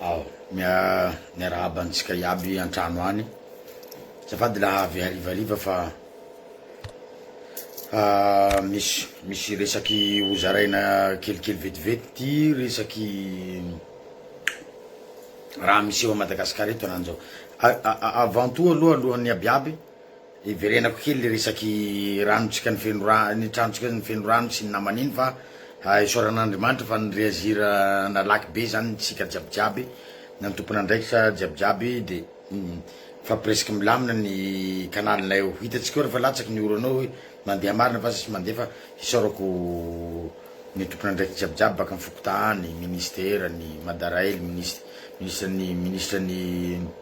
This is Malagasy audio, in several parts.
Ao, miarahaba antsika iaby an-trano any. Zafady la avy harivariva fa ah, misy misy resaky hozaraina kelikely vetivety ty resaky raha miseho a Madagasikara eto ananjao. Avant tout aloha alohan'ny abiaby Hiverenako kely le resaky ranontsika ny feno rano, ny tranontsika ny feno rano sy ny namana iny fa isaorana Andriamanitra fa ny reagir nalaky be zany tsika jiaby jiaby na ny tompon'andraikitra jiaby jiaby de fa presque milamina ny canal nay eo hitatsika eo refa latsaky ny orana eo mandeha marina fa tsisy mandeha fa isaorako ny tompon'andraikitra jiaby jiaby baka am fokontany, ministera, ny madarail, minis- ministra ny ministra ny.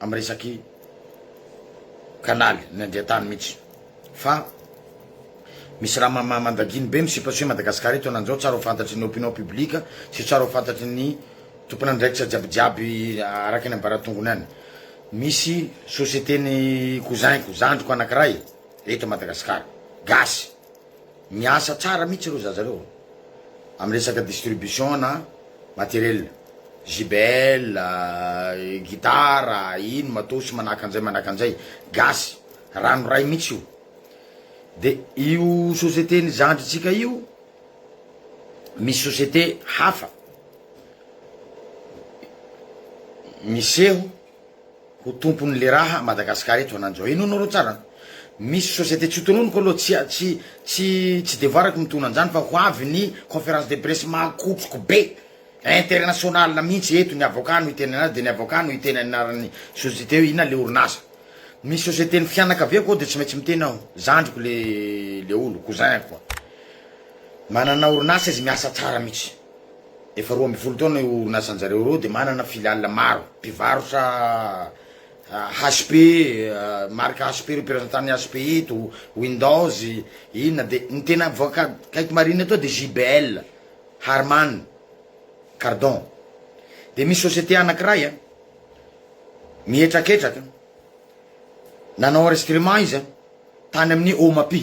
am resaky kanaly ny andiantany mitsy fa misy raha mama mandaginy be misipasio Madagascar eto ananjao tsara ho fantatry ny opinion public sy tsara ho fantatry ny tompon andraikitra jiaby jiaby araka ny ambaratongony any misy société ny cousin ko zandriko anakiray eto Madagascar gasy Miasa tsara mihitsy ireo zaza ireo amin'ny resaka distribution na matériel, JBL, gitara, ino, matos, manahaka an'izay manahaka an'izay, gasy, ranoray mihitsy io. De io société-n'ny zandritsika io, misy société hafa miseho. ho tompony le raha Madagascar eto ananjao henoinao reo tsara misy société tsy ho tononiko aloha tsy tsy tsy tsy devoirako mitona anzany fa ho avy ny conference de presse mahakotroko be international mintsy eto ny avocat no hiteny anazy de ny avocat no hiteny anarany société hoe inona le orinasa misy société ny fianakaviako ao de tsy maintsy miteny aho zandriko le le olo cousin ko manana orinasa izy miasa tsara mintsy. Efa roa ambin'ny folo taona io orinasan-jareo ireo dia manana filiale maro. Mpivarotra HP, marika HP ireo mpirazantanan'ny HP eto, Windows, inona dia ny tena mivoaka akaiky marina eto dia JBL, Harman Kardon. Dia misy société anankiray a, mihetraketraka, nanao enregistrement izy a, tany amin'ny Omapi.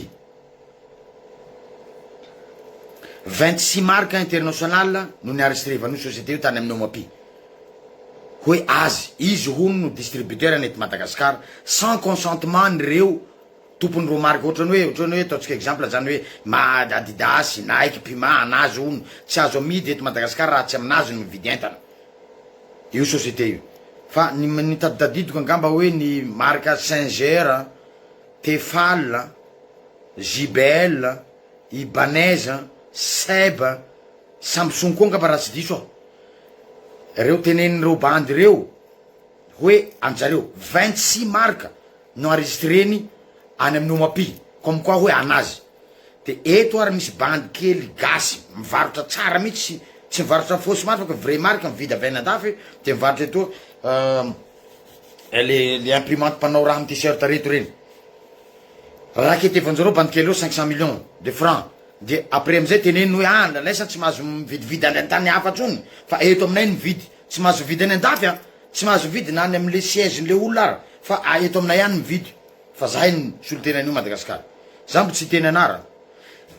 Vingt six marques internationales no ni-enregistrevan'io société io tany amin'ny OMAPI. Hoe azy, izy hono no distributeur any eto Madagascar, sans consentement an'ireo tompon'ireo marque ohatrany hoe ohatrany hoe ataontsika exemple zany hoe ma adidas, nike, puma anazy hono, tsy azo amidy eto Madagascar raha tsy aminazy no mividy entana io société io. Fa ny ny taditadidiko angamba hoe ny marque singer an. Tefal a, JBL a, Ibanez a, Seb a, Samsung koa angamba raha tsy diso aho. Reo tenenin'ireo bandy ireo hoe anjareo vingt six marques no enregistreny any amin'ny Omapi comme quoi hoe anazy. De eto ary misy bandy kely gasy mivarotra tsara mihitsy tsy mivarotra fausse marque fa vrai marque mividy avy any andafy de mivarotra etoa. le le imprimante mpanao rano t-shirt reto reny rakety efa anjareo bandy kely eo cinq cent millions de francs de après amizay teneniny hoe ah ndranaisa tsy mahazo mividividy any antany hafa tsony fa eto aminay no mividy tsy mahazo mividy any andafy an tsy mahazo mividy na any amle siège nle olona ara fa eto aminay any mividy fa zahay no solotena an'io Madagascar za mbo tsy hiteny anarana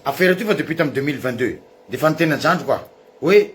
affaire ity fa depuis tam deux mille vingt deux de efa niteny an-jandriko aho hoe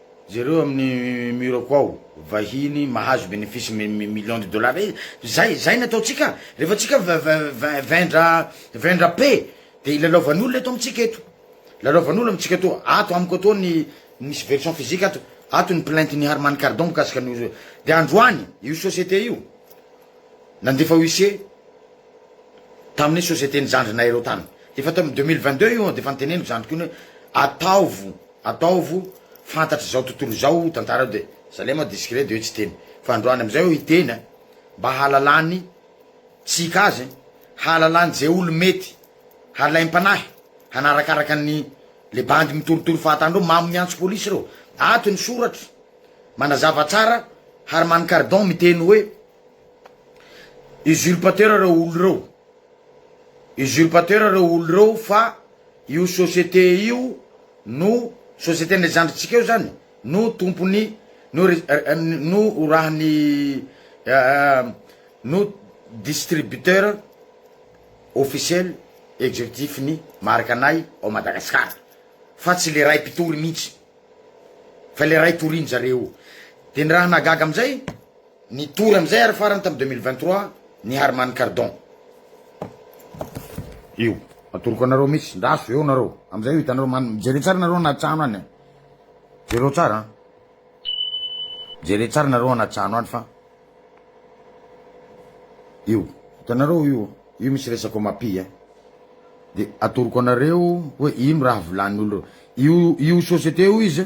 Jereo amin'ny mur-ko ao, vahiny mahazo bénéfice millions de dollars e! Zay, zay ny ataontsika, rehefa tsika vendra, vendra paix, dia ilalaovan'olona eto amintsika eto. Lalaovan'olona amintsika eto. Ato amiko atoa ny misy version physique ato. Ato ny plainte n'i Harmany Kardon mikasika an'io. Dia androany, io société io, nandefa huissier tamin'ny société-n'ny zandrinay ireo tany. Efa tamin'ny deux mille vingt-deux io dia efa noteneniko zandriko iny hoe, ataovo Ataovo fantatry zao tontolo izao tantara de zalay ma discret de hoe tsy hiteny fa androany amizay aho hiteny a mba hahalalany tsika azy hahalalany ze olo mety halaim panahy hanarakaraka ny le bandy mitorotoro fahatan dreo mamo miantso polisy reo ato ny soratra manazava tsara harman kardon miteny hoe usurpateur reo olo reo. usurpateur reo olo reo fa io société io no société ny zandry tsika io zany no tompony no no orahany no distributeur officiel executif ny marika anay ao Madagascar fa tsy le ray mpitory mintsy fa le ray toriny zareo de ny raha nahagaga amizay Ny tour amin'izay ary farany tamin'ny deux mille vingt trois ny Harman Kardon. Io. Atoroko anareo mihitsy. Ndaso eo nareo. Amin'izay io hitanareo man mijereo tsara nareo anaty trano any. Jereo tsara. Jere tsara nareo anaty trano any fa. Io. Hitanareo io. Io misy resako mapi eh. De atoroko anareo hoe ino raha volan'ny olona. Io io société io izy.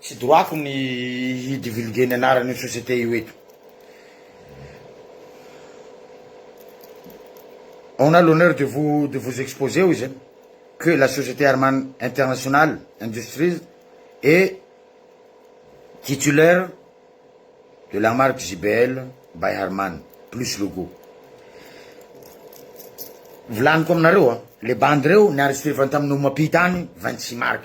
Tsy droit-ko ny hi divulguer ny anaran'io société io eto. On a l'honneur de vous de vous exposer hoy zany que la société Arman International Industries est titulaire de la marque JBL by Arman plus logo. Volaniko aminareo a, le bandy reo ni enregistrer-vany tamin'ny Omapi tany vingt six marc.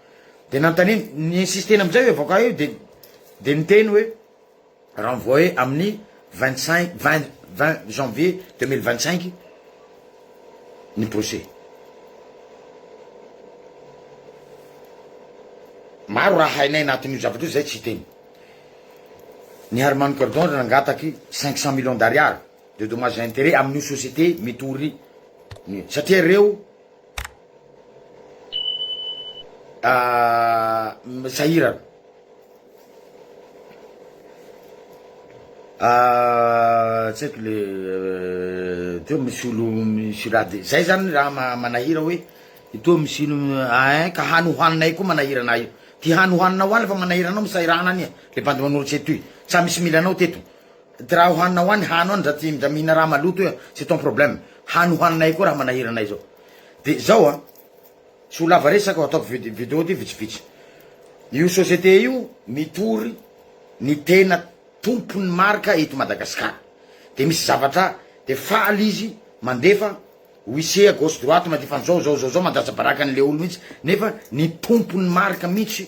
Dia nanontaniany, ni-insister-ny amin'izay hoe avaokao io dia dia niteny hoe renvoyer amin'ny vingt cinq, vingt, vingt janvier deux mille vingt cinq ny procès. Maro raha hainay anatin'io zavatra io izay tsy hiteny. Ny Harman Kardon ry nangataky cinq cent millions d'ariary de dommages et intérêts amin'io société mitory satria ireo sahirana tsy haiko le teo misy olo misy raha de zay zany raha ma- manahira hoe etoa misy ino ein ka hany hohaninay koa manahira anah io ty hany hohaninao any fa manahira anao misahirana any e le bandy manoratra etoy tsa misy mila anao teto Dra hohanina hoa ny hano any dra tsy mda mihina raha maloto hoe c'est ton problème hano hohaninay koa raha manahira anay zao de zao a tsy ho lava resaka o ataoko vi video ty vitsivitsy io société io mitory ny tena tompon'ny marika eto Madagascar de misy zavatra de faly izy mandefa wise à gauche droite mandefa anzao zao zao zao mandatsa baraka anle olo mitsy nefa ny tompon'ny marika mitsy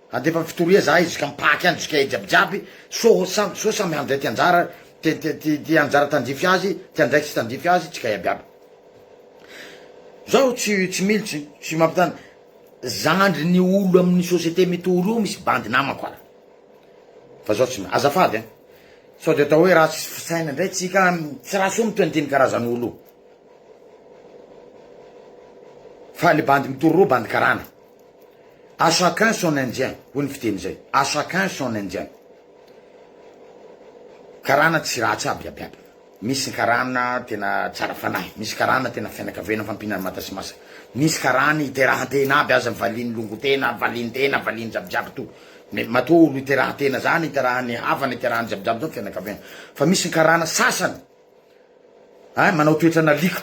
Handefa fitoria zahay jusqu'à Mpahaky any jusqu'à jiaby jiaby so samy so samy handray ty anjara te te ty ty anjara tandify azy ty andraikitry tandify azy tsika iaby aby zaho tsy tsy militsy tsy mampitana zandry ny olo aminy société mitory io misy bandy namako ary fa zaho tsy azafady an sao de atao hoe ratsy fisaina ndray tsika tsy raha soa mitoy an'tiny karazany olo io fa le bandy mitory reo bandy karana. À chacun son indien hoy ny fiteny zay, à chacun son indien. Karana tsy ratsy aby aby aby, misy ny karana tena tsara fanahy, misy karana tena fianakaviana mifampihina ny mata sy masaka, misy karana iterahantena aby aza valian'ny longontena, valian'ny tena, valian'ny jiaby jiaby to, mais matoa olo iterahantena zany, iterahany havana, iterahany jiaby jiaby zao fianakaviana, fa misy ny karana sasany, Ay manao toetra nalika.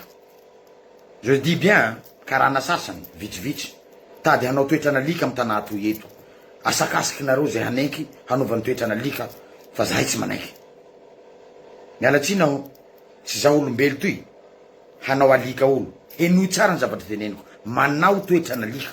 Je dis bien an, karana sasany, vitsivitsy, tady hanao toetra nalika am tanà toy eto. Asakasaky nareo zay hanenky hanaovany toetra nalika fa zahay tsy manaiky. Miala tsiny aho, tsy za olombelo toy hanao alika olo. Henoy tsara ny zavatr teneniko, manao toetra nalika.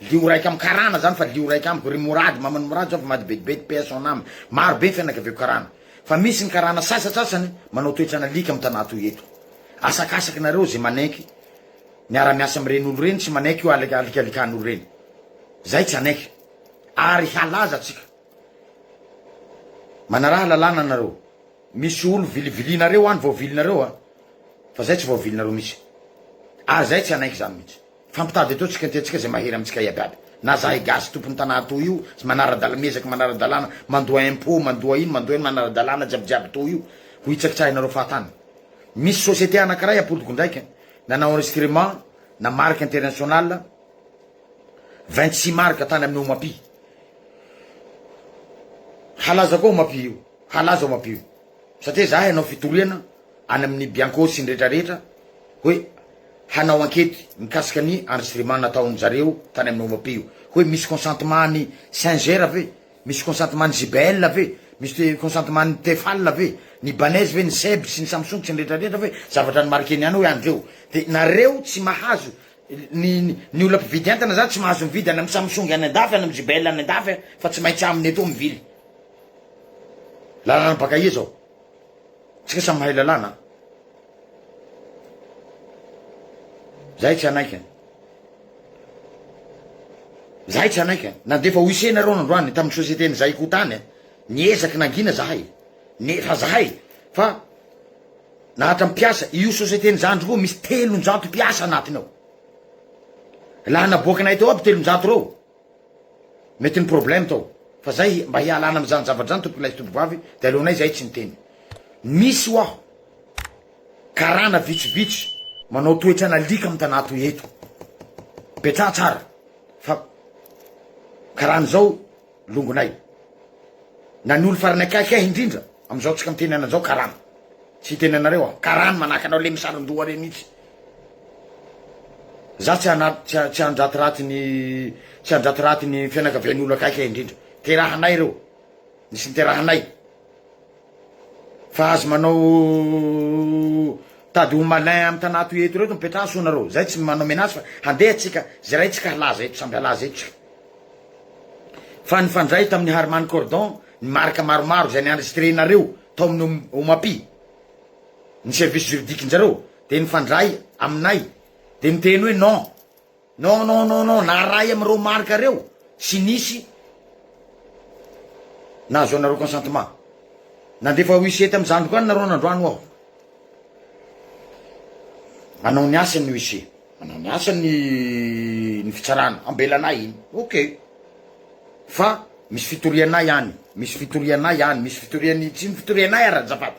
Lio raika am karana zany fa lio raika amiko ry morady maman'i morady zao fa mady betibety paix à son ame maro be ny fianakaviako karana fa misy ny karana sasasasany manao toetrana alika am tanà toy eto asakasaky nareo ze manaiky miara miasa am reny olo reny tsy manaiky io alika alikalikan olo reny zay tsy anaiky ary halaza atsika manaraha lalàna nareo misy olo vilivilinareo any vaovilinareo a fa zay tsy vaovilinareo misy ary zay tsy anaiky zany mitsy Fa ampitady eto tsika tia antsika zay mahery amintsika iaby aby na zahay gasy tompony tanà toa io zay manara-dalana miezaka manara-dalàna mandoa impôt mandoa ino mandoa ino manara-dalàna jiaby jiaby toa io ho hitsakitsahinareo fahatany misy société anakiray apolitokindraika nanao enregistrement na marque international vingt six marque tany amin'ny omapi halaza koa omapi io halaza omapi io Satria izahay hanao fitoriana any amin'ny Bianco sy ny rehetrarehetra hoe hanao ankety mikasika ny enregistrement nataon-dry zareo tany amin'ny OMP io. Hoe misy consentement an'i Singer ve? Misy consentement an'i JBL ve? Misy consentement an'i Tefal ve? Ny Ibanez ve? Ny Seb sy ny Samsung sy ny rehetrarehetra ve? Zavatra ni-marquer-ny ihany hoe an'ny reo. Dia nareo tsy mahazo, ny ny olona mpividy entana izany tsy mahazo mividy any amin'ny Samsung any an-dafy, any amin'ny JBL any an-dafy fa tsy maintsy aminy etoa mivily. Lalana baka aia zao? Tsika samy mahay lalana an! Zahay tsy hanaiky an! Zahay tsy hanaiky an! Nandefa OIC nareo nandroany tamin'ny société ny Zaiko tany an! Niezaky nangina zahay! Ne fa zahay fa na hatra mpiasa io société ny zandry koa misy telonjato mpiasa anatiny ao! La naboakanay teo aby telonjato reo! Mety ny problème tao fa zay mba hialana amzany zavatra zany tompoko ilay tompovavy de aleonay zahay tsy miteny misy hoaho karana vitsivitsy manao toetra an'alika am tanà toy eto petraha tsara fa karana zao longonay na ny olo farany akaiky ahy indrindra amzao tsika miteny ananjao karana tsy hiteny anareo aho karana manahaka anao le misaron-doha reny itsy Za tsy hanaty tsy tsy handratiraty ny tsy handratiraty ny fianakavian'ny olo akaiky ahy indrindra terahanay reo nisy niterahanay fa azy manao tady ho malin amy tanà toy eto reto mipetraha soa nareo zay tsy manao menace fa handeha tsika zeray tsika halaza eto samby halaza eto tsika fa nifandray tamin'ny harman cordon ny marika maromaro zay ni enregistrer nareo tao amin'ny omapi ny service juridique njareo de nifandray aminay de niteny hoe non non non non non naharay amireo marque reo sy nisy nahazoanareo consentement nandefa huissier tamy zandriko any nareo nandroany ho aho manao ny asany ny huissier manao ny asany ny fitsarana ambelanay iny ok fa misy fitorianay any misy fitorianay any misy fitoriany tsy ny fitorianay ary azafady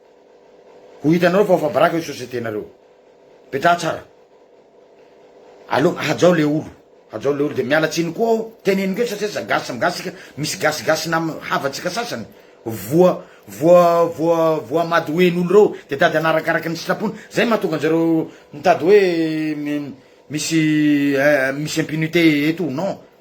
Ho hitanareo fa ho fabaraka io société nareo io. Petraha tsara. Aleo hajao le olo. Hajao le olo de miala tsiny koa aho teneniko eto satria za gasy samy gasy tsika misy gasy gasy nam havantsika sasany voa voa voa voa madoen'olo reo de tady anarakaraky ny sitrapony zay mahatonga anjareo mitady hoe misy misy impunité eto ou non.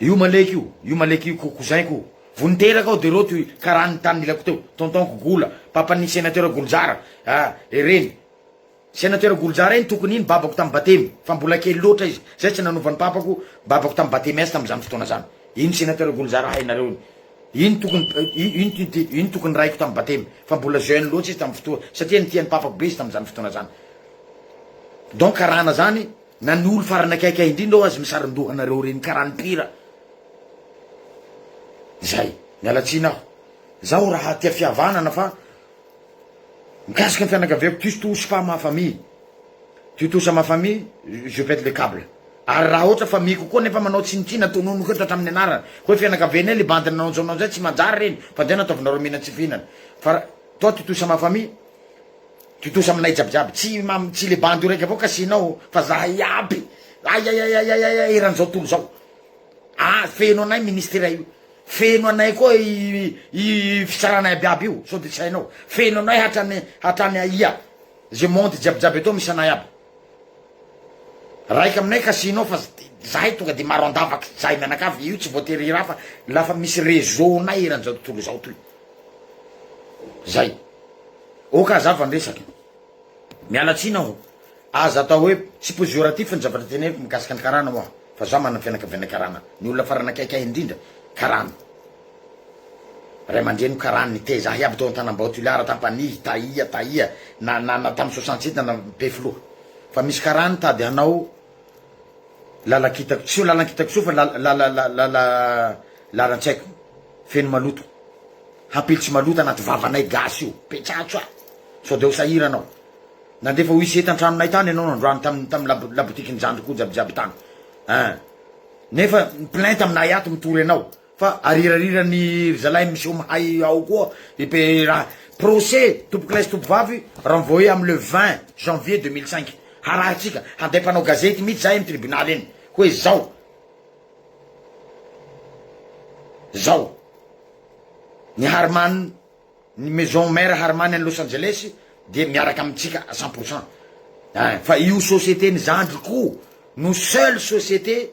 Io maleky io, io maleky io ko cousin ko. Vo niteraka aho de reo toy karaha ny tany nilako teo, tonton ko gola, papan'ny senateur golojara, ah e reny. Senateur golojara iny tokony iny babako tam batemy, fa mbola kely loatra izy, zay tsy nanovan'ny papako babako tam batemy azy tamzany fotoana zany. Iny senateur golojara hainareo iny. Iny tokony iny tokony raiko tam batemy, fa mbola jeune loatra izy tam fotoa, satria nitia ny papako be izy tamzany fotoana zany. Donc karana zany. Na ny olo farany akaikay indrindra ao aza misaron-doha anareo reny karaha ny mpihira. Zay. Miala tsiny aho. Zaho raha tia fihavanana fa mikasika ny fianakaviako tu touche pas ma famille. Tu touche à ma famille je pète le cable. Ary raha ohatra famille-ko koa nefa manao tsinontsinona tononiko eto hatramin'ny anarany hoe fianakavianay le bandy nanaontsonao zay tsy manjary reny fa ndeha nataovinareo mihinan-tsy fihinana fa toi tu touche à ma famille. Tontosa aminay jiaby jiaby tsy mam tsy le bandy io raiky avao kasihinao fa zahay iaby aiaiaiaiaiaiai eran zao tontolo zao ah feno anay ministera io feno anay koa i i fisarana iaby iaby io sao de tsy hainao feno anay hatrany hatrany aia ze monde jiaby jiaby eto misy anay iaby raika aminay kasihinao fa zahay tonga de maro andavaky zahay mianakavy io tsy voatery hira fa lafa misy reseau nay eran zao tontolo zao toy Zay. Ok hazava ny resaka e. Miala tsiny aho. Aza atao hoe tsy posioratif ny zavatra teneniko mikasika ny karana hoa fa za manana fianakaviana karana. Ny olona farany akaiky ahy indrindra karana. Ray aman-dreniko karana niteza ahy aby tao Antanambao Toliara Ampanihy Tahiya Tahiya na na na tamin'ny soixante sept na na be filoha. Fa misy karana tady hanao. Lalan-kitako, tsy io lalan-kitako tsy io fa lalan-tsaiko feno maloto, hampily tsy maloto anaty vavanay gasy io, petsatso a! sao de ho sahirana aho, nandefa wc tan-tranonay tany ianao androany tam tam labotiky ny zandriko jiabijiaby tany, ah! nefa mi-plainte aminay ato mitory anao. Fa arirarirany ry zalahy miseho mahay ao koa i pe ra. Procès tompokolahy sy tompovavy renvoyer am le vingt janvier deux mille cinq. Harahintsika, handay mpanao gazety mitsy zahay am tribunal eny hoe zao zao ny Harman ny maison mère Harman any Los Angeles dia miaraka amitsika à cent pour cent. Fa io société ny zandriko no seul société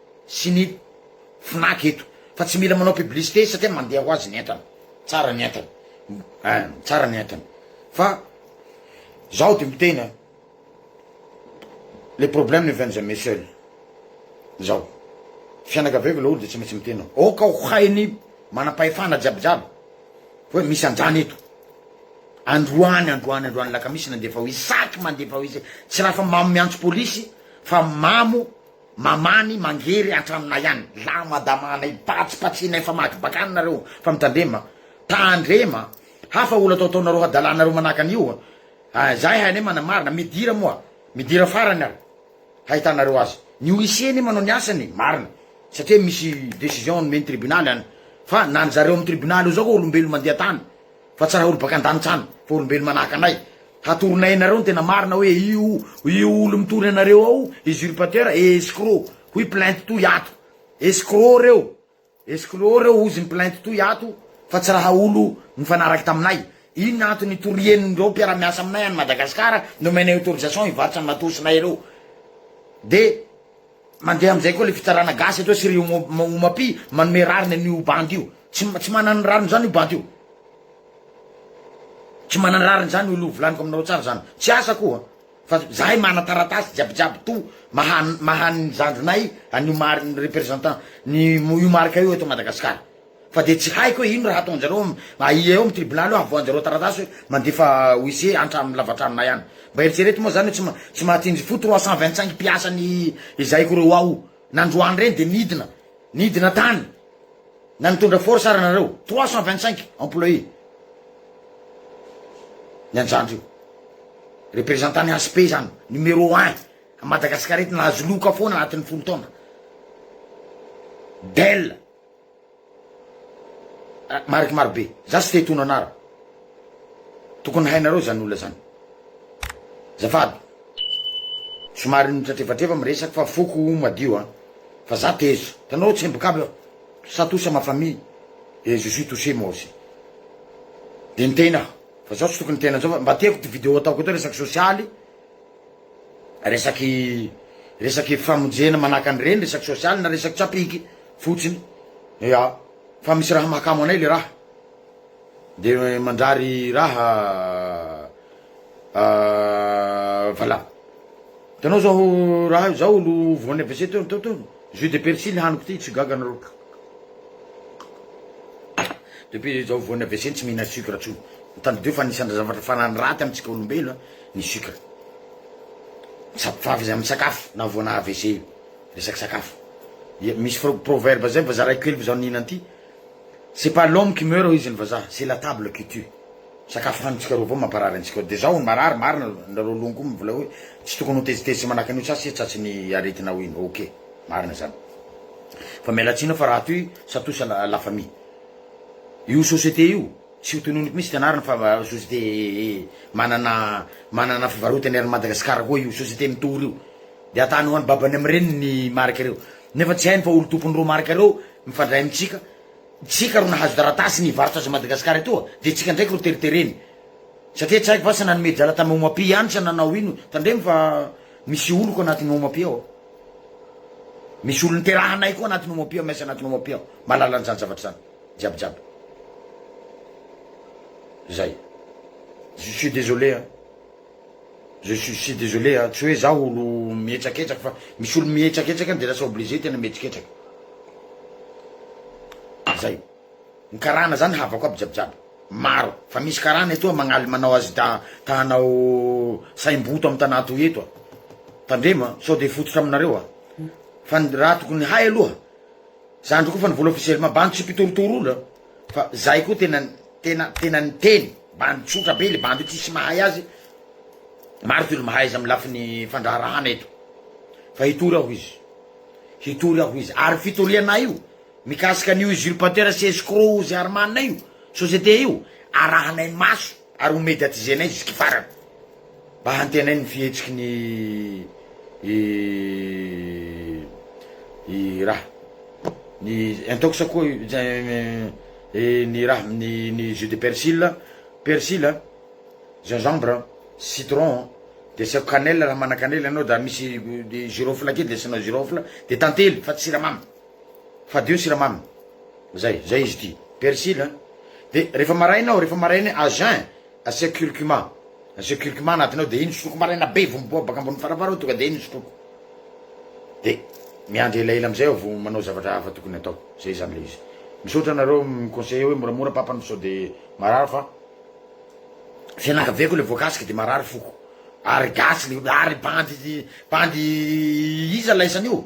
sy ny Fnac eto fa tsy mila manao publicité satria mandeha ho azy ny entana, tsara ny entana eh, tsara ny entana fa zaho de miteny eh. le problème ne vient jamais seul zaho fianakaviako laolo de tsy maintsy miteny aho aoka ho hainy manam-pahefana jiabijiaby hoe misy anjany eto androany androany androany alakamisy nandefa ho izy saky mandefa ho izy tsy raha fa mamo miantso polisy fa mamo Mamany mangery antranonay any. La madama anay patsipatsihinay fa maty bakany nareo fa mitandrema a! Tandrema a! Hafa olo atao ataonareo hadalanareo manahaka an'io a! Ah zahay hainay manamarina, midira moa midira farany ary hahitanareo azy. Ny huissier anie manao ny asany marina satria misy decision nomen'ny tribunaly any fa na ny zareo amin'ny tribunaly io zao koa olombelona mandeha tany. Fa tsy raha olo baka andanitra any fa olombelo manahaka anay hatoronay anareo ny tena marina hoe io io olo mitory anareo ao usurpateur et escroc hoy plainte toy ato escroc reo escroc reo hozy ny plainte toy ato fa tsy raha olo nifanaraky taminay inona antony itorian'ireo mpiara-miasa aminay any Madagascar nomenay autorisation hivarotra ny matosinay ireo de Mandeha amizay koa le fitsarana gasy eto sy ry Omapi manome rariny an'io bandy io tsy tsy manana ny rariny zany io bandy io tsy manana rariny zany io lo volaniko aminao tsara zany tsy asa koa fa zahay mana taratasy jiabijiaby to maha maha ny zandrinay an'io mari- ny représentant ny io marika io eto Madagasikara Fa dia tsy haiko hoe ino raha ataonjareo aia eo am tribonaly eo avoahanjareo taratasy hoe mandefa huissier antra am lavatrano nay any. Mba eritsereto moa zany hoe tsy ma tsy mahatsinjy fo trois cent vingt cinq mpiasa ny ezahiko reo ao nandroany reny dia nidina nidina tany na nitondra force ara nareo trois cent vingt cinq employé ny anjandry io. Representant ny HP zany numero un a Madagascar eto nahazo loka foana anatin'ny folo taona. Del. Mariky maro be. Za tsy te hitono anara. Tokony hainareo zany olona zany. Zafady. Somary nitratrefatreva miresaka fa foko o madio a. Fa za tezo. Hitanao tsemboka aby aho. Ça touche à ma famille et je suis touché moi aussi. De niteny aho. Fa zao tsy tokony hiteny anzao fa mba tiako ty video ataoko eto resaka sosialy. Resaky resaky famonjena manahaka an'ireny, resaky sosialy na resaky tsapiky fotsiny. Ya, fa misy raha mahakamo anay le raha. De manjary raha vala. Hitanao zao raha io, zao olo voan'ny AVC teo teo teo. Jus de persil haniko ty, tsy ho gaga anareo. Depuis zao voan'ny AVC tsy mihina sucre tsony. Tadidio fa anisan'ny zavatra farany raty amintsika olombelo. ny sucre misampifavy izy amin'ny sakafo na voana avc io resaky sakafo dia misy fro- proverbe zay mba zaraiko kely fa zaho nihina an'ity c'est pas l'homme qui meurt hoy izy ny vazaha c'est la table qui tue sakafo hanintsika reo avao mamparary antsika ao dia zaho hono marary marina nareo loha koa mivolay hoe tsy tokony ho tezitezitra manahaka an'io sasy tratry ny aretinao iny ok marina zany fa miala tsiny aho fa raha toy satosa la la famille io société io Tsy ho tononiko mihitsy fianarana fa société manana manana fivarotany ary Madagascar koa io société mitory io de atany ho any babany am reniny ny marika reo nefa tsy hainy fa olo tompony reo marika reo mifandray amitsika tsika ro nahazo taratasy ny hivarotra azy Madagascar etoa de tsika ndraiky ro teritereny satria tsy haiko va sa nanome drala tam Omapi ihany sa nanao ino tandremo fa misy oloko anatiny Omapi ao misy olo niterahanay koa anatiny Omapi ao miasa anatiny Omapi ao malalanzany zavatra zany. jiaby jiaby zay je suis désolé an je suis si désolé an tsy hoe zaho olo mihetsaketraky fa misy olo mihetsaketraky de lasa obligé tena mihetsiketsaky zay ny karana zany havako aby jiaby jiaby maro fa misy karana etoa magnaly manao azy da ta hanao saimboto amy tanà toy eto a tandremo a sao de fototra aminareo a fa ny raha tokony hay aloha Zandry koa fa nivola officiellement bandy tsy mpitorotoro olona fa zay koa tena tena tena niteny bandy tsotra be le bandy io tsisy mahay azy maro ty olo mahaiza amin'ny lafiny fandraharahana eto fa hitory aho izy hitory aho izy ary fitorianay io mikasika ny usurpateur sy escroc ozy armana io société io arahanay maso ary ho mediatizenay jusky farany mba hantenay ny fihetsiky ny i raha ny intox koa ny raha ny ny jus de persil persil a gingembre citron de asiako cannelle raha manana cannelle ianao da misy girofle kely de asianao girofle de tantely fa tsy siramamy Fadio ny siramamy zay zay izy ity persil a de refa maraina ao refa maraina à jeun asiako curcuma asiako curcuma anatiny ao de iny sotroko maraina be vo miboa baka ambony farafara ao tonga de iny sotroko de miandry elaela amizay aho vo manao zavatra hafa tokony atao zay zany le izy misaotra anareo miconseille oe moramora papa no sao de marary fa fianakaviako le voakasika de marary foko ary gasy le olo ary bandy bandy iza laisan'io.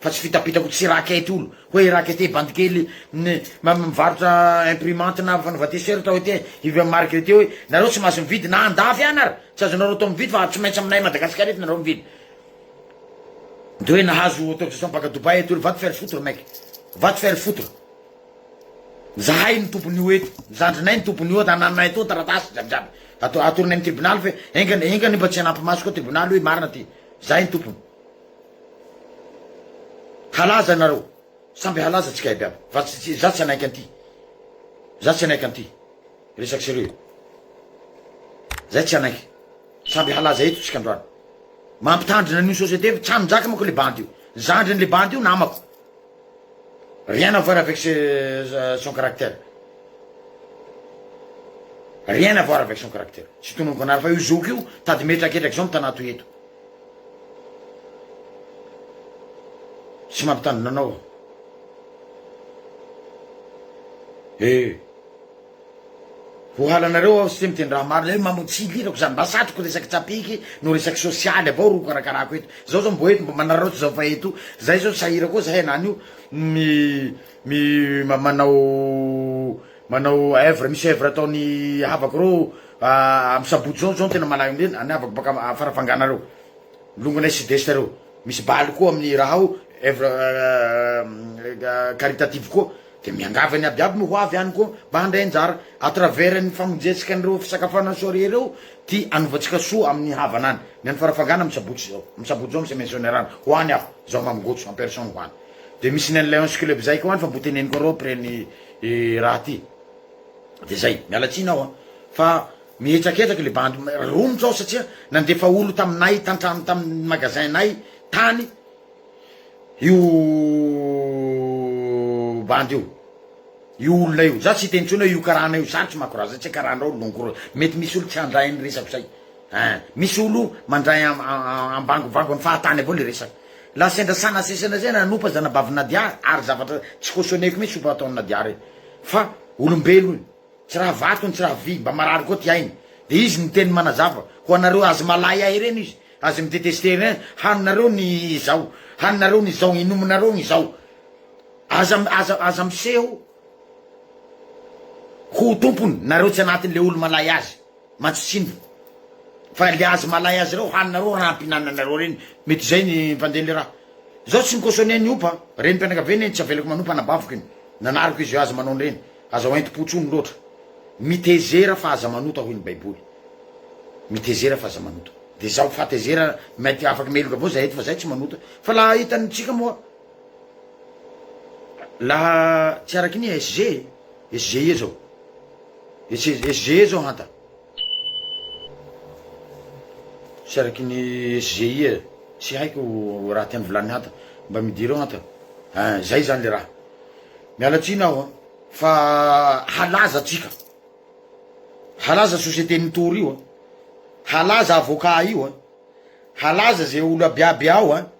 Fa tsy fitapitako tsy raquette olo hoe raquette bandy kely ny mivarotra imprimante na fanaova t-shirt hoe te hividy marque io hoe nareo tsy mahazo mividy na andafy any ary tsy azonareo atao mividy fa tsy maintsy aminay Madagascar eto nareo mividy de hoe nahazo autorisation baka Dubaï eto olo va te faire foutre mec va te faire foutre zahay ny tompon'io eto zandrinay ny tompon'io eto anananay etoa taratasy jiaby jiaby ato atoronay amin'ny tribunal fa enga enga nefa tsy hanampy maso koa tribunal hoe marina ty zahay ny tompony Halaza nareo samby halaza tsika iaby aby fa tsy za tsy hanaiky anty za tsy hanaiky anty resaky sérieux e zay tsy hanaiky samby halaza eto tsika androany mampitandrina anio société fa tsy hanjaka mako le bandy io zandriny le bandy io namako Rien à voir avec son caractère Rien à voir avec son caractère Tsy tononiko anareo fa io zoky io tady metraketraky zao mitanato eto Tsy mampitandrina anao aho Eh Ohalanareo aho site miteny raha marina hoe mamono tsy ilirako zany mba satriko resaky tsapiky no resaky sosialy avao ro karakarako eto zao zao mbo eto mbo manararaotra zao fa eto zay zao sahira koa zahay anany io mi mi manao manao oeuvre misy oeuvre ataony havako reo am sabotsy zao zao tena malaelo ndreny any havako baka am farafangana reo longonay sud est reo misy bal koa aminy raha ao oeuvre caritative koa. Dia miangavy ny abiaby ny ho avy any koa mba handray anjara, à travers ny famonjentsika an'ireo fisakafoanana soirée ireo, ty hanovantsika soa amin'ny havana any. Ny any Farafangana amin'ny sabotsy izao, amin'ny sabotsy izao misy misionnerana, ho any aho, izaho Mamy Gojo en personne ho any. Dia misy ny an'ny Lions Club izay koa any fa mbo teneniko arô après ny raha ty. Dia izay, miala tsiny aho an! Fa mihetraketrak le bandy, romotra aho satria nandefa olo taminay, tan-trano tamin'ny magasin-nay tany, Io bandy io. Io olona io. Za tsy hiteny intsony hoe io karana io. Sarotsy manko raha zay tsy karanao no longo roa. Mety misy olo tsy handray an'ny resako zay. Ein. Misy olo mandray ambangobango an'ny fahatany avao le resaka. La sendra sana sesena zay nanopa zanabavy Nadia ary zavatra tsy cautionner-ko mintsy sopa ataon'i Nadia reny. Fa olombelo io. Tsy raha vato no tsy raha vy, mba marary koa ty ainy. Dia izy niteny manazava ho anareo azy malay ahy ireny izy, azy mi detester ireny, haninareo ny izao, haninareo ny izao, inominareo ny izao. Aza aza aza miseho ho tompony nareo tsy anatin'ilay olo malay azy. Matsotsimbo fa le azy malay azy reo haninareo raha ampinananareo reny mety zay ny mpandeha le raha zaho tsy mikosonia ny opa reny mpianakaviana iny tsy avelako manompa anabaviko iny nanariko izy io aza manao an'ireny aza ho entim-po tsony loatra mitezera fa aza manota hoy ny baiboly mitezera fa aza manota de zaho fahatezera mety afaka meloka avao zay eto fa zay tsy manota fa laha hitan'ny tsika moa laha tsy araky ny SG Essayer zao. Essayer zao hanta. Tsy araky ny essayer. Tsy haiko raha tiany volany hanta. Mba midireo hanta. Hein, zay zany le raha. Miala tsiny aho an. Fa halaza tsika. Halaza société ny tour io an. Halaza avocat io an. Halaza ze olo abiaby ao an.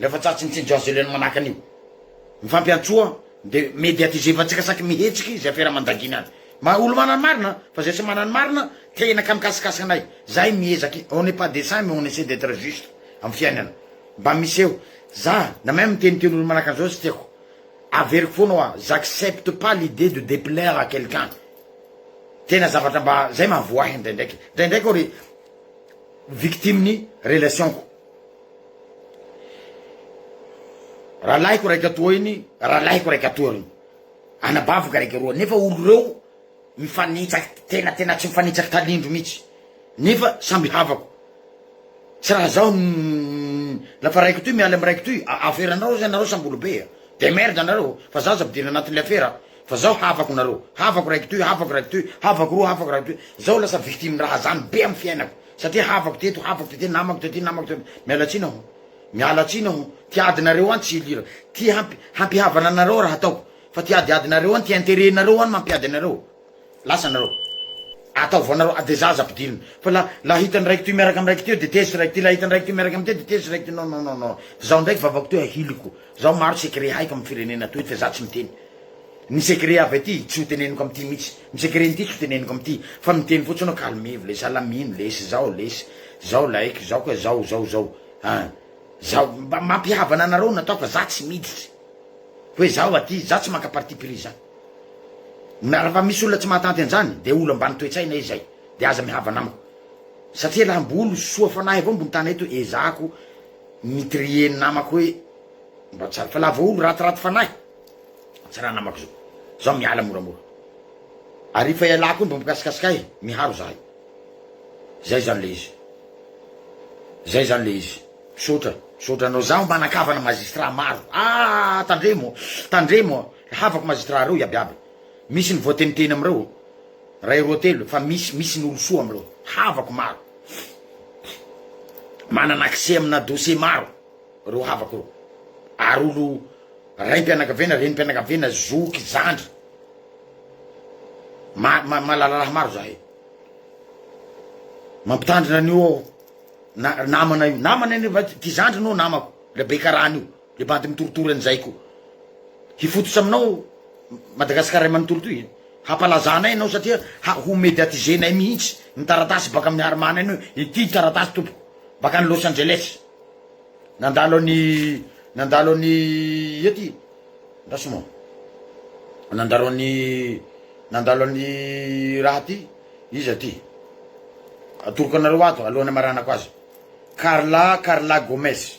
Rehefa tratry ny tsinjo azo elena manahaka an'io, ny fampiantsoa dia mediatiser fa tsikasaiky mihetsiky izay fera mandagina azy. Maha olo-manana ny marina fa izay tsy manana ny marina tehina ka mikasikasika anay. Zahay miezaky, on n'est pas des saints mais on essaie d'etre juste amin'ny fiainana. Mba miseho. Za na même miteniteny olo manahaka an'izao tsy tiako. Averiko foana hoa j'accepte pas l'idée de deplaire à quelqu'un. Tena zavatra mba zay mahavoa ahy indraindraiky. Indraindraiky aho ry victime ny relation-ko. Rahalahiko raika toa iny, rahalahiko raika toa ary. Anabaviko raika roa nefa olo reo mifanitsaka tena tena tsy mifanitsaka talindro mitsy nefa samby havako tsy raha zaho lafa raiko toy mialy amy raiko toy afera anareo zay nareo samby olo be a de merde nareo fa zaho aza ampidirina anatinle afera fa zaho havako nareo havako raiko toy havako raiko toy havako roa havako raiko toy zaho lasa victime raha zany be amy fiainako Satria havako teto, havako tety, namako tety, namako tety. Miala tsiny aho. Miala tsiny aho. Ty adinareo any tsy hilirako. Ty hampi, hampihavana anareo raha ataoko. Fa ty adiadinareo any, ty intérêt nareo any mampiady anareo. Lasa anareo. Ataovo anareo, a de za aza ampidirina. Fa la, la hitan'ny raiko ty miaraka amin'ny raiko teo de tezitra raiko ty, la hitan'ny raiko ty miaraka amin'ny teo de tezitra raiko ty. Non, non, non, non. Zaho ndraiky vavako teo ahiliko. Zao maro secret haiko am firenena toy fa za tsy miteny Ny secret avy aty tsy ho teneniko am ty mitsy Ny secret nty tsy ho teneniko am ty Fa miteny fotsiny aho calmez-vous les salamino les zao les Zao laiko zao ka zao zao zao an Zao mba mampihavana anareo no ataoko fa za tsy miditra Hoe zaho aty za tsy maka parti pris za Na rafa misy olona tsy mahatanty anzany dia olo ambany toetsaina izy zay dia aza mihavana amiko Satria raha mbol soa fanahy avao mbony tany eto ezahako Mitrier ny namako hoe mba tsy fa lava olo ratiraty fanahy tsy raha namako zao zao miala moramora ary efa ialako iny mba mikasikasika ahy miharo zahay zay zany le izy zay zany le izy misaotra misaotra anao zaho manakavana magistrat maro ah tandremo tandremo havako magistrat reo iabiaby misy ny voateniteny amreo Ray roa telo fa misy misy ny olo soa amlou havako maro manana accès amina dossier maro reo havako reo ary olo raimpianakaviana renimpianakaviana zoky zandry ma ma malala raha maro zahay mampitandrina anio aho na namana io namana nefa ty zandry no namako le be karana io Le bandy mitoritory an'izay ko. Hifototra aminao Madagascar ray manontolo toy e. Hampalaza anay ianao satria ho mediatiser nay mihitsy ny taratasy baka amin'ny Harmana iny hoe ity taratasy tompoko baka any Los Angeles. Nandalo an'i nandalo an'i ia ty andraso moa. Nandalo an'i nandalo an'i raha ty iza ty. Atoroko anareo ato alohan'ny amaranako azy. Carla Carla Gomes.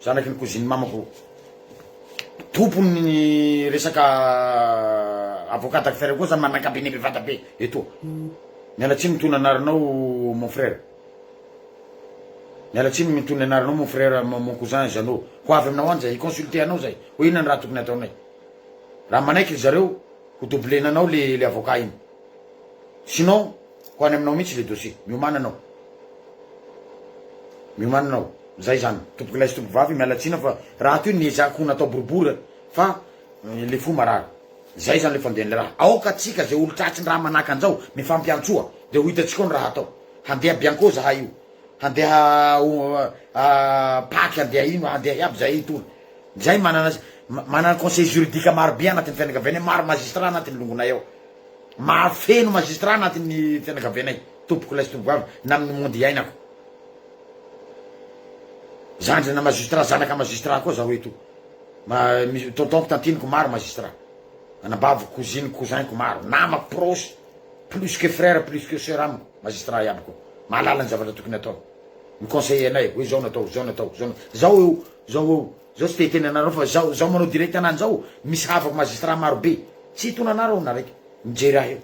Zanaky ny cousine mamako tompon'ny resaka avocat d'affaires koa zany manakabe ny bevata be etoa. Miala tsiny mitony anaranao mon frère. Miala tsiny mitony anaranao mon frère mon cousin Jeannot. Ho avy aminao any zay, hi-consulter anao zay hoe inona ny raha tokony hataonay. Raha manaiky ry zareo, ho doubler-na anao le le avocat iny. Sinon ho any aminao mihitsy le dossier. Miomana anao. Miomana anao. Zay zany. Tompokolahy sy tompovavy miala tsiny aho fa rahateo ny ezahako ho natao boribory fa le fo marary. Zay zany le fandehan'le raha. Aoka tsika ze olon-tratsin-draha manahaka an'zao mifampiantsoa de ho hitantsika ao ny raha hatao. Handeha bianco zahay io. Handeha paky handeha ino handeha iaby zahay hitory. Zay manana manana conseil juridique maro be anatin'ny fianakavianay maro magistrat anatin'ny longonay ao. Mahafeno magistrat anatin'ny fianakavianay tompoko lahy sy tompoko vavy na amin'ny monde iainako. Zandrina magistrat, zanaka magistrat koa zaho eto. Misy tontonko, tantiniko maro magistrat. Anabaviko, cousiniko, cousin-ko maro, namako proche, plus que frère, plus que sœur amiko, magistrat iaby koa. Mahalala ny zavatra tokony atao. Mi-conseiller anay hoe zao no atao, zao no atao, zao no, zao eo, zao eo, Zao tsy te hiteny anareo fa zao zao manao direct anah zao misy havako magistrat maro be tsy hitona anah reo na raiky mijery ahy eo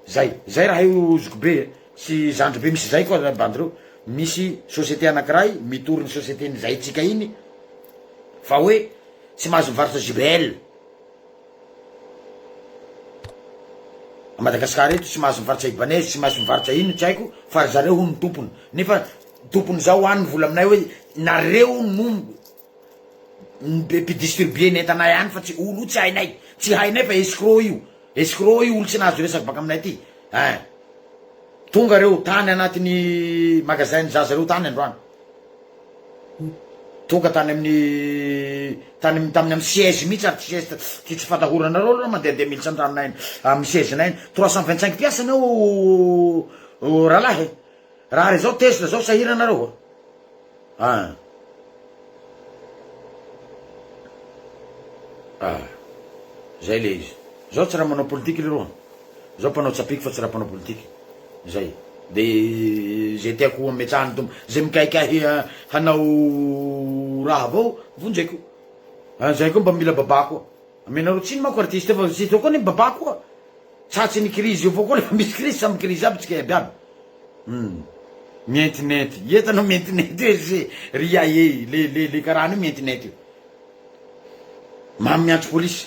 zay zay raha io zoky be sy zandry be misy zay koa bandy reo misy société anakiray mitory ny société ny zahitsika iny fa hoe tsy mahazo mivarotra jbl A Madagascar eto tsy mahazo mivarotra Ibanez tsy mahazo mivarotra inona tsy haiko fa ry zareo hono tompony nefa tompony zao hoany ny vola aminay hoe nareo no mpidistribuer ny entanay any fa tsy olo io tsy hainay tsy hainay fa escroc io escroc io olo tsy nahazo resaka baka aminay aty ein tonga reo tany anatin'ny magasin ny zaza reo tany androany. Tonga tany amin'ny tany amin'ny tamin'ny amin'ny siège mihitsy ary tsy zesta tsy tsy fatahorana nareo aloha mandehandeha militsy an-tranonay any amin'ny siège nay any trois cent vingt cinq piastres ny ao rahalahy e raha ary zao tesla zao sahirana nareo a ah ah zay le izy zao tsy raha manao politique leroa. Zaho mpanao tsapiky fa tsy raha mpanao politika. Zay. De ze tiako ho ametrahan'ny Tompo, ze mikaikahy hanao raha avao vonjeko. Ah, zay koa mba mila babà koa. Amenareo tsiny manko artiste fa tsy zao koa ny babà koa. Tratry ny krizy io avao koa refa misy krizy, samy krizy aby tsika iaby iaby. Hum. Mientinenty. Ie tanao mientinenty hoe ze ry Yayey, le le le karana io mientinenty io. Mamy miantso polisy.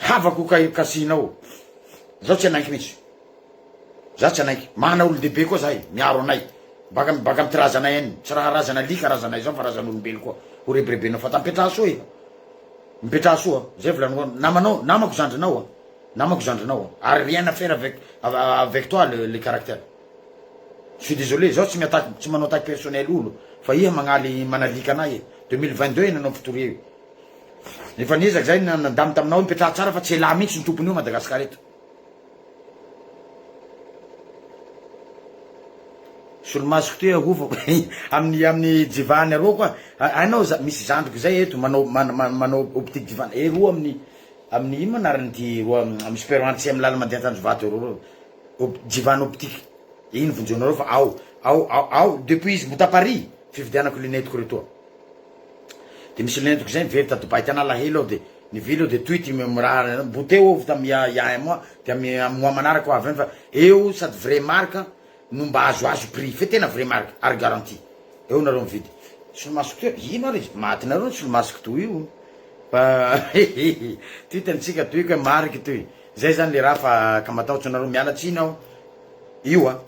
Havako ka io casino ao. Zaho tsy hanaiky mintsy. Zaho tsy hanaiky. Manana olon-dehibe koa zahay miaro anay. Baka am baka am ty razanay any. Tsy raha razana alika razanay zao fa razan'olombelo koa. Ho rebrebenao fa ta mipetraha soa iha. Mipetraha soa. Zay volaninao an. Namanao, namako zandrinao an. Namako zandrinao an. Ary rien à faire avec avec toi le le caractère. Je suis désolé, zaho tsy mi-attaque, tsy manao attaque personnelle olo fa iha magnaly manalika anay e. Deux mille vingt deux iananao am fitoria io. Efa niezaka zay na nadama taminao hoe mipetraha tsara fa tsy elah mintsy ny tompony eo Madagascar eto. Solomasoko ty ahofako amin'ny amin'ny jivahany aroa koa hainao za misy zandriko zay eto manao manao optique jivana eh roa amin'ny amin'ny ino anarany ty roa amin'ny super anti amin'ny lala mandeha Tanjombato roa roa op jivana optique iny vonjenareo fa ao ao ao ao depuis izy mbo ta Paris fividianako lunette ko retoa. De misy lentiko zay miverty à Dubaï tena alahelo aho de nivily aho de tohity mi mirary anao mbo teo aho vita mi ya ya mois de ami am mois manaraka ho avy any fa eo sady vrai marque no mba azo azo prix fe tena vrai marque ary garantie eo nareo mividy solomasoko teo ino ary izy maty nareo ny solomasoko toa io fa hehehe tohity antsika tohiko hoe marque toy zay zany le raha fa ka matahotry nareo miala tsiny aho io a.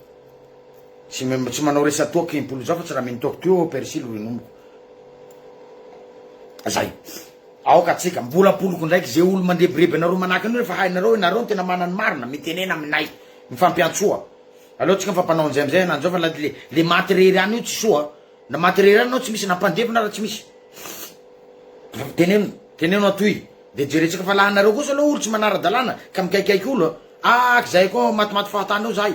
Tsy tsy manao resa-toaka impolo zao fa tsy raha mino toaka toy ô persil ro inomiko. Zay. Aoka atsika mbola ampoloko ndraiky ze olo mandrebireby anareo manahaka an'io refa hainareo enareo no tena mana ny marina mitenena aminay mifampiantsoa aleo tsika mifampanao anzay amzay enany zao fa la le le maty rery any io tsy soa na maty rery any anao tsy misy na mpandevy na ra tsy misy teneno teneno atoy de jerentsika fa la anareo kosa aloha olo tsy manara-dalàna ka mikaikaiky olo a ak zay koa matimaty fahatany eo zahay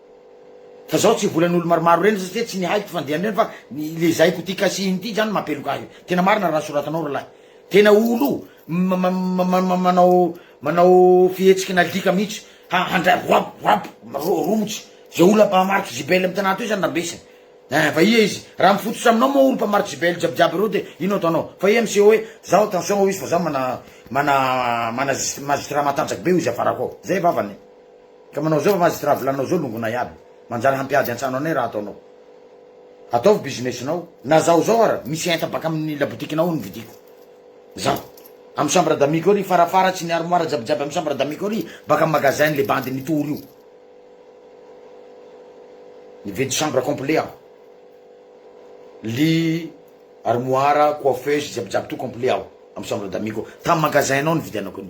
Fa zao tsy volan'olo maromaro reny satria tsy ny haiko ty fandiany reny fa ny le zaiko ty kasihiny ty zany mampeloka ahy io. Tena marina raha soratanao ralahy. Tena olo manao manao fihetsiky n'alika mihitsy ha handray rap rap ro romotra ze olo mpamarotro JBL am tanà toy zany rambesany. Ein fa ia izy? Raha mifototra aminao moa olo mpamarotro JBL jiaby jiaby reo de ino ataonao? Fa ia miseho hoe zao attention ao izy fa zao mana mana magistrat matanjaka be ao izy afarako ao. Zay vavany. Ka manao zao fa magistrat vilaninao zao longonay aby manjary hampiady antsano anay raha ataonao ataovy business nao na zaho zao ara misy enta baka aminy labotiky nao ny vidiko zaho amy chambre d'ami ko ry farafara tsy ny armoire jiabijiaby amy chambre d'ami ko ry baka amy magasin le bandy mitory io nividy chambre complet aho lit armoire coiffeuse jiabijiaby to complet aho amy chambre d'ami ko tamy magasin nao nividianako ny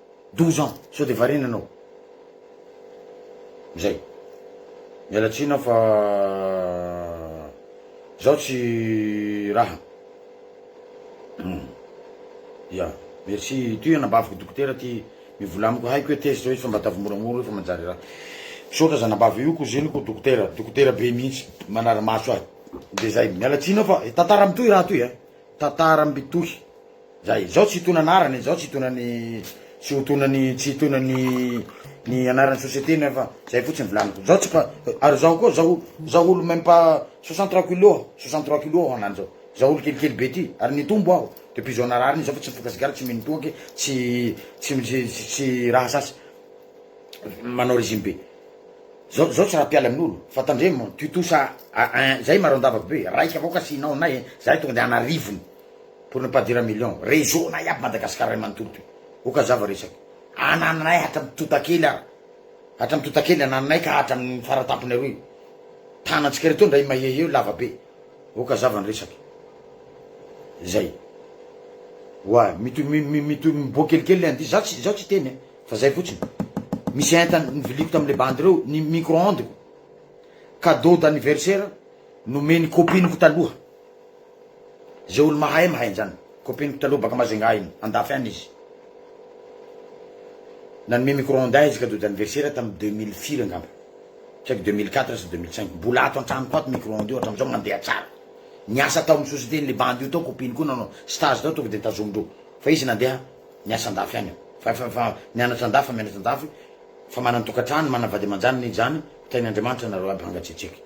Douze ans sao de variana anao zay. Miala tsiny aho fa zaho tsy raha. Hum. Ya. Merci. Itoy anabaviko dokotera ty mivola amiko haiko hoe test hoe fa mba ataovy moramora hoe fa manjary raha. Misaotra zanabavy io koziniko dokotera, dokotera be mihitsy manara-maso ahy. De zay. Miala tsiny aho fa tantara mitohy raha toy a. Tantara mitohy. Zay, izao tsy hitona anarany, izao tsy hitona ny tsy ho tona ny tsy hitona ny ny anaran'ny société ny fa zay fotsiny volaniko. Zao tsy pa ary zao koa zao zao olo même pas 63 kilos, 63 kilos aho anany zao. Zao olo kelikely be ty ary nitombo aho depuis zao narary zao fa tsy mifoka sigara tsy mino toaky tsy tsy tsy tsy raha sasy manao régime be. Zao zao tsy raha mpiala amin'olo fa tandremo tutosa a ein zay maro andavaky be raisiko avao ka asianao anay zahay tonga de an'arivony. pour ne pas dire million réseau nay aby Madagascar ray manontolo ty oka zava resaka anananay hatram totakely ary hatram totakely anananay ka hatram faratampony aroa io tanantsika retoa ndray mahehy eo lava be oka zava ny resaka zay wa mito mito miboa kelikely le andihy za tsy za tsy teny fa zay fotsiny misy enta niviliko tamle bandy reo ny micro onde ko cadeau d'anniversaire nomeny copine ko taloha Ze olo mahay mahay anzany. Copine ko taloha baka Majunga iny, andafy any izy. Nanome micro onde ahy izy cadeau d'anniversaire tam deux mille firy angamba. Tsy haiko deux mille quatre sa deux mille cinq. Mbola ato antranoko ato micro onde io hatramzao mandeha tsara. Niasa tao am société nle bandy io tao copine ko nanao stage tao tonga de tazomindreo. Fa izy nandeha niasa andafy any. Fa efa efa mianatra andafy fa mianatra andafy fa manan tokatrano manan vady amanjaniny izy zany. Tahin Andriamanitra nareo aby hangatsetseka.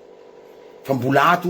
Fa mbola ato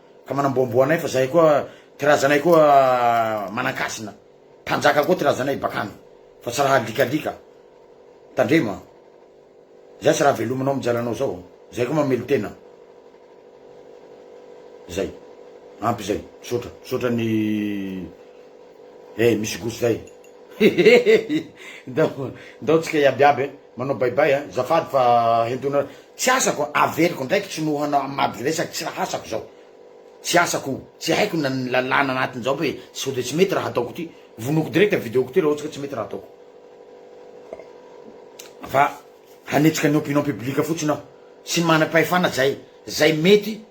Ka manamboamboa anay fa zahay koa ty razanay koa manankasina mpanjaka koa ty razanay bakany fa tsy raha alikalika tandrema zay tsy raha velominao am jalanao zao zahay koa mamelo tena zay ampy zay misaotra misaotra ny eh misy gosto zay ndao ndao tsika iaby iaby eh Manao baybay a! Zafady fa hentona tsy asako averiko ndraiky tsy noho hanao amady resaky tsy raha asako zao tsy asako io tsy haiko na ny lalàna anatiny zao hoe sao de tsy mety raha ataoko ty vonoiko direct ny video ko ty raha ohatsy ka tsy mety raha ataoko fa hanetsika ny opinion public fotsiny aho tsy manam-pahefana zay zay mety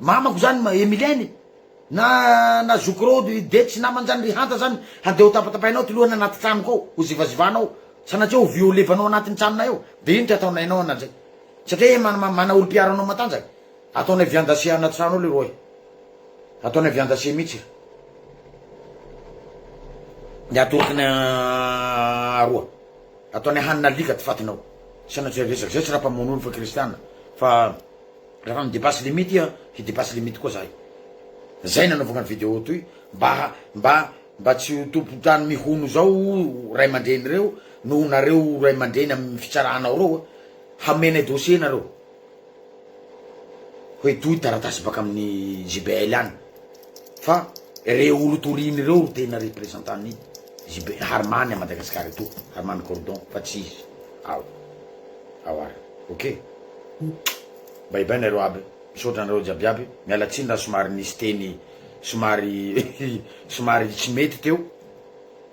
Mamako zany ma Emilienne e. Na na zokiroho ry Dedy sy namany zany ry Hanta zany handeha ho tapatapahinao ty lohany anaty tranoko ao ho zivazivanao sanatria ho violevanao anatin'ny tranonay ao de ino ty ataonay anao ana zay satria e mana mana olom-piaro anao matanjaka ataonay viandase anaty trano ao leroa e ataonay viandase mitsy e ny atoriky ny aroa ataonay hanina alika ty fatinao sanatria resaky zay tsy raha mpamono olona fa kristiana fa Rehefa mi depasse limite iha hi depasse limite koa zahay. Zay nanaovako ny video toy mba mba mba tsy ho tompon-trano mihono zao o ray aman-dreny reo noho nareo ray aman-dreny amin'ny fitsarana ao reo hamenay dossier nareo hoe toy taratasy baka amin'ny JBL any fa re olo toriny reo ro tena representant ny JB Harimany à Madagascar etoa Harimany Cordon fa tsy izy ao ao ary ok. Bay bay nareo aby, misaotra anareo jiabiaby, miala tsiny raha somary nisy teny somary somary tsy mety teo,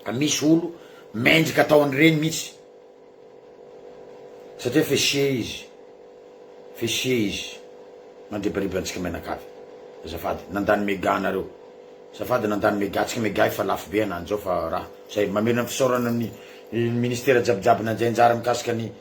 fa misy olo mendrika atao an'ireny mihitsy satria f'esie izy, f'esie izy mandribariba antsika mianakavy, azafady nandany mega anareo, azafady nandany mega tsika mega efa lafo be ananjy zao fa raha zay, mamelona ny fisaorana ny ministera jiabijiaby nandray anjara mikasika ny.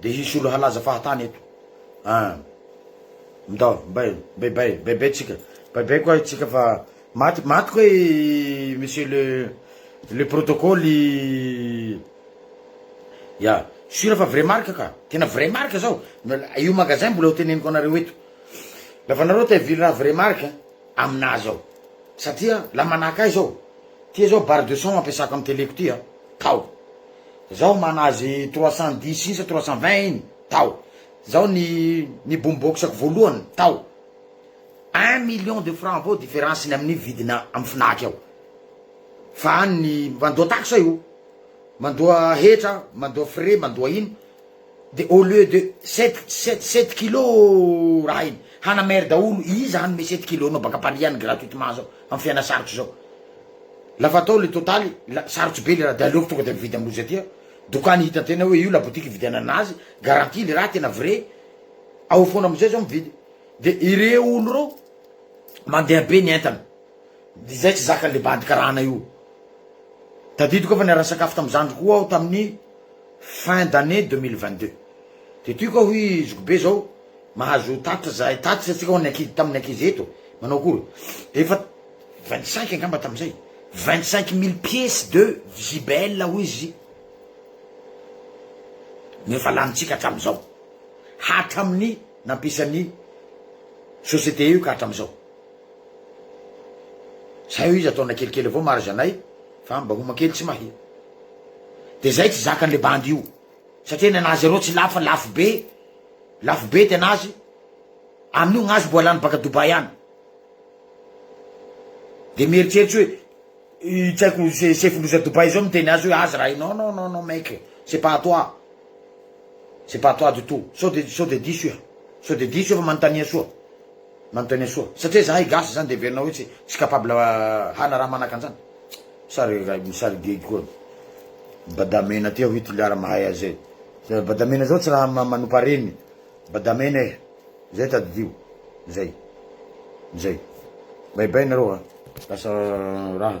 Dia hisy olo halaza fahatany eto ah ndao mbay mbay bay mbay bay tsika mbay bay koa tsika fa maty maty koa i monsieur le le protocole i ya sur fa vrai marque ka tena vrai marque zao io magasin mbola ho teneniko anareo eto la fa nareo te hivily raha vrai marque aminah zao satria la manahaka ahy zao ty zao barre de son ampiasako am teleko ty ah tao Zao manazy trois cent dix isa trois cent vingt iny tao Zao ny ny boom box ko voalohany tao un million de franc avao difference ny aminy vidina am fnac ao fa any ny mandoa taxe io mandoa hetra mandoa frais mandoa ino De au lieu de sept sept sept kilos raha iny hana maire daholo iza hanome sept kilos nao baka paris any gratuitement zao am fiaina sarotra zao la fa atao le totaly la sarotra be le raha de aleoko tonga de mividy am loza aty aho dokany hita tena hoe io la boutique ividianana azy garantie le raha tena vrai ao fona amizay zao mividy de ireo olo reo mandeha be ny entana. Dia izay tsy zakan'ilay bandy karana io. Tadidiko aho fa niara-nisakafo tamin'ny zandriko koa aho tamin'ny fin d'année deux mille vingt deux. Dia tiako aho hoy zokibe izao, mahazo tatitra izahay tatitra isika ho an'ny ankizy tamin'ny ankizy eto, manao akory? Dia efa vingt cinq angamba tamin'izay, vingt cinq mille pièces de JBL hoy izy no efa lanintsika hatramin'izao. Hatramin'ny nampisan'ny société io ka hatramin'izao. Zay hoy iza taona kelikely avao marz anay fa mba homa kely tsy mahia de zay tsy zakan le bandy io satria ny anazy areo tsy lafo fa lafo be lafo be tenazy aminio gnazy mboa lany baka Dubai any de mieritseritsy hoe i tsy haiko se- sefondroza Dubai zao miteny azy hoe aza raha i non non non non mec c'est pas à toi c'est pas à toi du tout sao de sao de diso iha sao de diso iha fa manontania soa Manontania soa. Satria zahay gasy zany de heverinao hoe tsy capable hana raha manaka anzany? Sa ry ray misary gegy koa ny badamena ty ahoy toliara mahay azy zay? Sa badamena zao tsy raha manompa reny badamena eh! Zay tadidio. Zay. Zay. Bay bay nareo a. Lasa raha.